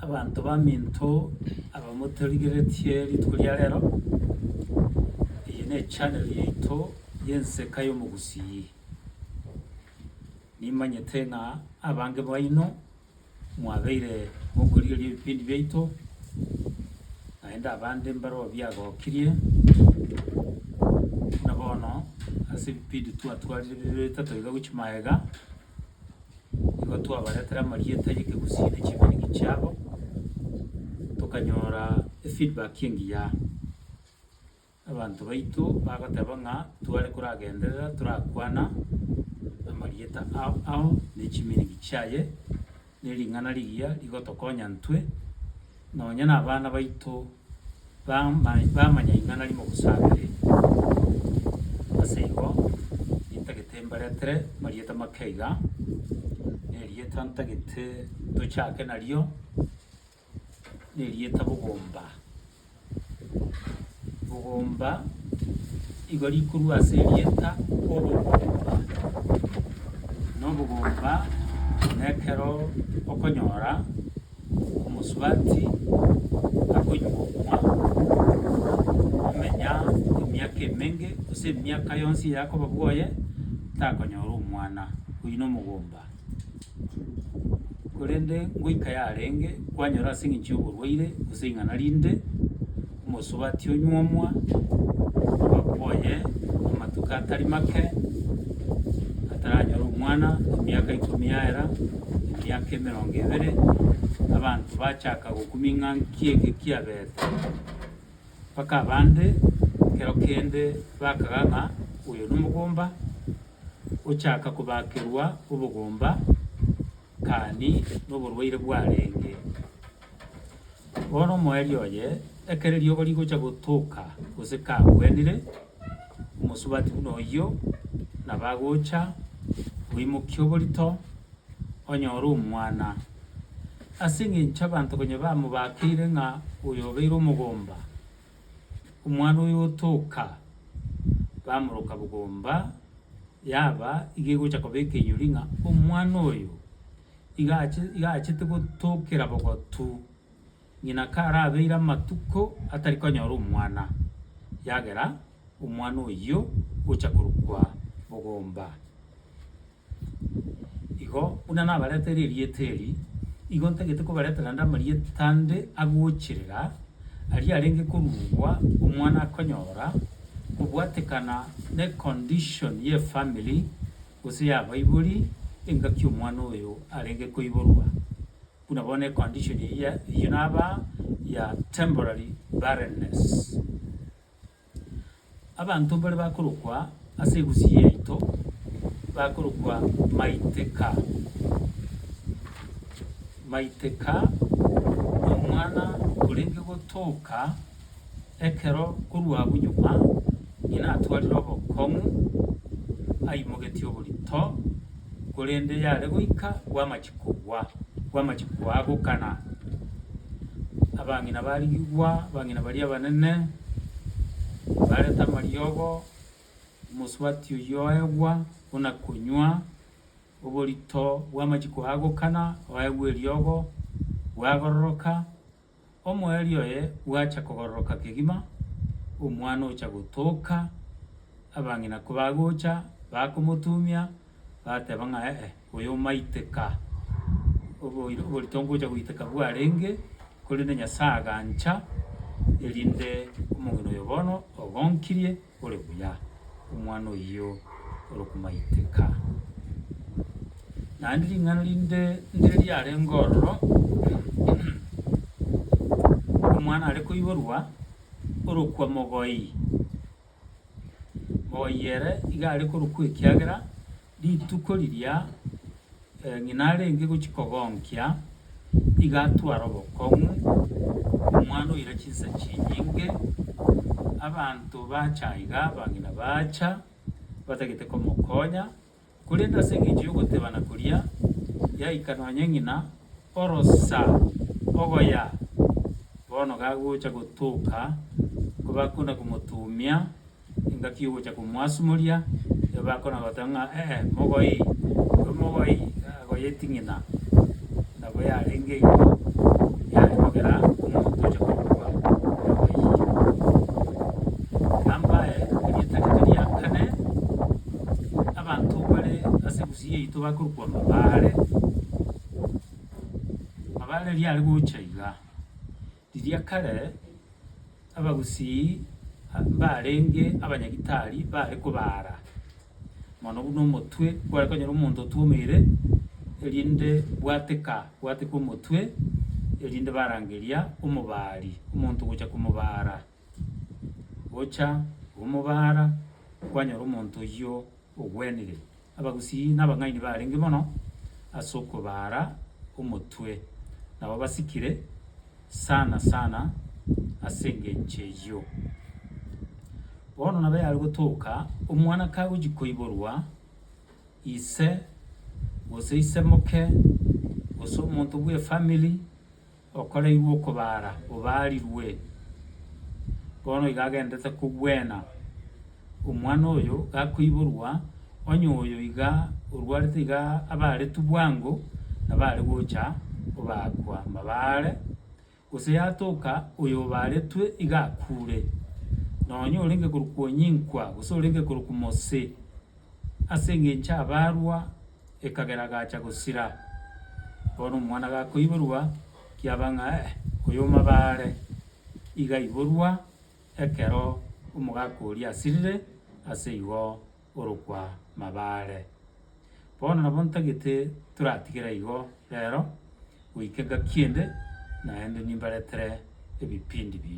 Abanto baminto aba motorigeretie rituko ria rero, eye nechaneli yaito y'Enseka y'Omogusii. Nimanyete ng'a abange baino mwabeire mokorigereria ebipindi biaito, naende abande mbarobwo biagokirie, buna bono ase ebipindi twatwarire bibere bitato iga gochia magega. nigo twabaretera amarieta y'ekegusii ne chiberiki chiabo, tokanyora efeedback engiya. Abanto baito bagoteba ng'a tware koragenderera torakwana amarieta ao ao ne chiminiki chiaye, ne ring'ana rigiya rigotokonya ntwe, nonya na abana baito bama bamanya ring'ana rimogosakereri. Ase igo intagete mbaretere marieta make iga, na erieta ntagete tochake nario, na erieta bogomba. Bogomba igo rikorwa ase erieta obogomba, na obogomba nekero okonyora. Omosubati akonywa okwa komenya emiaka emenge, gose emiaka yonsi eye akoba bwoye, takonyora omwana, oyio nomogomba. Korende ngoika yarenge, kwanyora as'eng'encho y'oborwaire, gose ing'ana rinde. omosubati onyuomwa, omogaka oye amatuko atari make, ataranyore omwana, emiaka ikomi yaera, emiaka emerongo ebere, abanto bachaka gokumia ng'a nki eke kiabete? Mpaka abande ekero kende bakaga ng'a oyo nomogomba, ochaka kobakerwa obogomba. Gani noborwaire bwarenge. Bono omoerio oye, ekero eriogo rigocha gotoka gose kagwenire, omosubati buna oyio nabo agocha, oimokie oborito, onyore omwana. Ase engencho abanto konya bamobakeire ng'a oyo obeire omogomba, Omwana oyo otoka, bamoroka bogomba, yaba iga egocha koba ekenyori ng'a omwana oyo iga ache iga achete gotokera bogotu ng'ina karabeire amatuko atari konyora omwana, ekiagera omwana oyio ocha korokwa bogomba. Igo buna nabareteire erieta eri, igo ntagete kobaretera ande amarieta ande agocherera aria arenge koruegwa omwana akonyora, kobwatekana necondition y'efamily gose y'abaibori engaki omwana oyo arenge koiborwa. Buna bono econdition eyio naba ya temporary barrenness. Abanto mbare bakorokwa ase egusii yaito bakorokwa Maiteka. Maiteka nomwana orenge gotoka ekero korwa abwo nyuma ng'ina atwarire obokong'u aimogetie oborito. Korende yare goika kw'amachiko gwa kw'amachiko aa gokana, abang'ina barigigwa, abang'ina baria abanene bareta amariogo, omosubati oyio oegwa buna konywa, oborito bw'amachiko aa gokana oegwa eriogo, bwagaroroka, Omoerio oye bwacha kogororoka kegima, omwana ocha gotoka, abang'ina kobagocha, bakomotumia, bateba ng'a, Ee, oyo omaiteka, oboiro oboritongo ocha goiteka bwarenge, korende Nyasae agancha, erinde omong'ina oyo bono ogonkirie. Ore buya, omwana oyio ore komaiteka. Naende ring'ana rinde ndire riarenge ororo, omwana are koiborwa orokwa mogoii. Mogoii ere iga are korokwa ekiagera. Rituko riria ng'ina arenge gochia kogonkia, iga atware obokong'u, omwana oira chinsa chinyinge. Abanto bacha aiga, abang'ina bacha batagete komokonya, korende ase engencho y'ogotebana koria yaika nonye ng'ina, orosa ogoya bono gagocha gotoka, kobakona komotumia. engaki y'ogocha komwasumoria, nigo bakona goteba ng'a ee mogoe oyo mogoe agoyeti ng'ina, nabo yarenge igo yare kogera omonto oche korokwa mogoe iye. Nambaye erietageto ria kane, abanto bare ase Gusii yaito bakorokwa Mabare, Mabare riare gocha iga. Riria kare abagusii mbarenge abanyagitari baare kobaara mono buna omotwe kware konyora omonto otwomeire, erinde bwateka bwateka omotwe, erinde barangeria omobaari omonto gocha komobaara. Gocha omobaara kwanyora omonto oyio ogwenire. Abagusii na abang'aini barenge mono ase okobaara omotwe, nabo basikire sana sana ase engencho eyio. Bono nabo yare gotoka omwana kagochia koiborwa ise, gose ise moke, gose omonto bw'efamiri, Okoraigwa okobaara obaarirwe, bono iga agenderete kogwena. Omwana oyo gakoiborwa, onye oyo iga orwarete iga abaaretwe bwango, nabo are gocha obaakwa mabaare, gose yatoka oyobaaretwe iga akuure. Nonya orenge korokwa onyinkwa, gose orenge korokwa mose. Ase engencho abarwa ekagera agacha gosira. Bono omwana gakoiborwa kiaba ng'a eh, oyo mabare. Iga aiborwa ekero omogaka oria asirire ase igo orokwa mabare. Bono nabo ntagete toratigere igo rero goika engaki ende naende nimbaretere ebipindi binde.